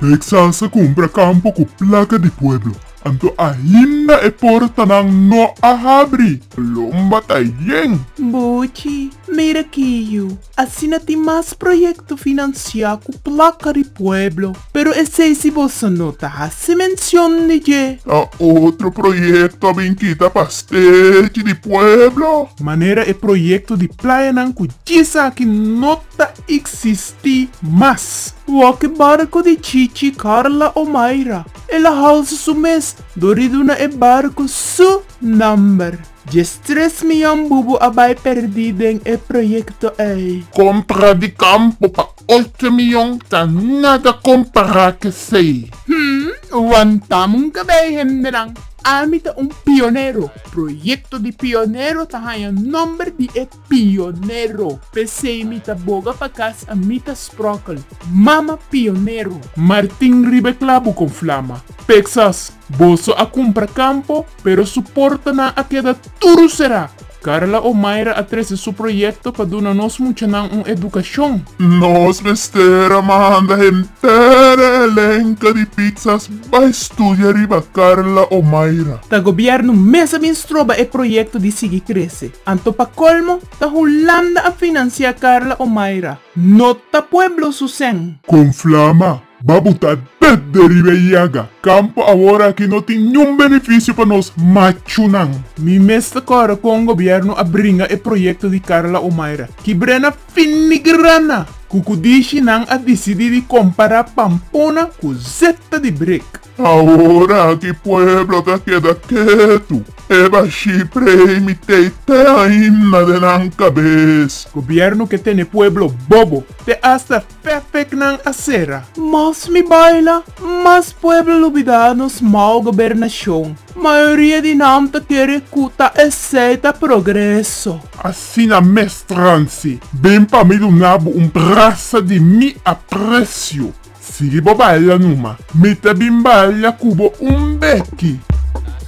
Reksas a kumpra kampo ku plaka di pueblo, anto ainda e portanan no a habri. Lomba ta yen. Buchi, mira ki yu. Asina tin mas proyekto finansiá ku plaka di pueblo. Pero esei si boso no ta hasi mencion di dje. Ta otro proyecto a bin kita pa stechi di pueblo. Manera e proyecto di playanan cu djisaki no ta existi mas. Wak-e barco di Chichi, Carla o Mayra. El a housi su mes dor di duna e barco su number. Dje stres mian bubu a bay perdi den e proyecto ey. Contra di campo pa. Otro mion ta nada compara c'esey. Hum, wantam un cabey hendenan. Ami ta un pionero. Proyecto di pionero ta haña nomber di e pionero. P'esey mi ta boga pa cas a mi ta sprokel, Mama pionero! Martin riba e clabu con flama. P'exas, boso a cumpra campo, pero su portanan a keda tur cerá. Carla Omaira a trece su proyecto pa duna nos muchanan un educacion. Nos mester a manda henter e elenco di pizzas bay studia riba Carla Omaira. Ta gobierno mes a bin stroba e proyecto di sigui crece. Anto pa colmo ta Hulanda a financia Carla Omaira. No ta pueblo su sen. Con flama. Babu ta ded deriba e yaga. Kampo awor aki no tin niun benefisio pa nos machunan. Mi mes ta kòrda kon gobièrnu a bringa e proyekto di Carla Omaira. Kibrena finigrana! Kukudishi nan a disidí di kompará Pampona ku zeta di brek. Awor aki pueblo ta keda ketu. E bashí prei mi tei te ainda den nan kabes. Gobièrnu ke tene pueblo bobo. Te asta. Pèpèknan a sera. Mas mi baila, mas pueblo lo bida nos mau gobernashon. Mayoria di nan ta kere ku ta esei ta progreso. Asina mes transi. Ben pa mi duna bo un brasa di mi apresio. Sigui bo baila numa. Mi ta bin baila ku bo un beki.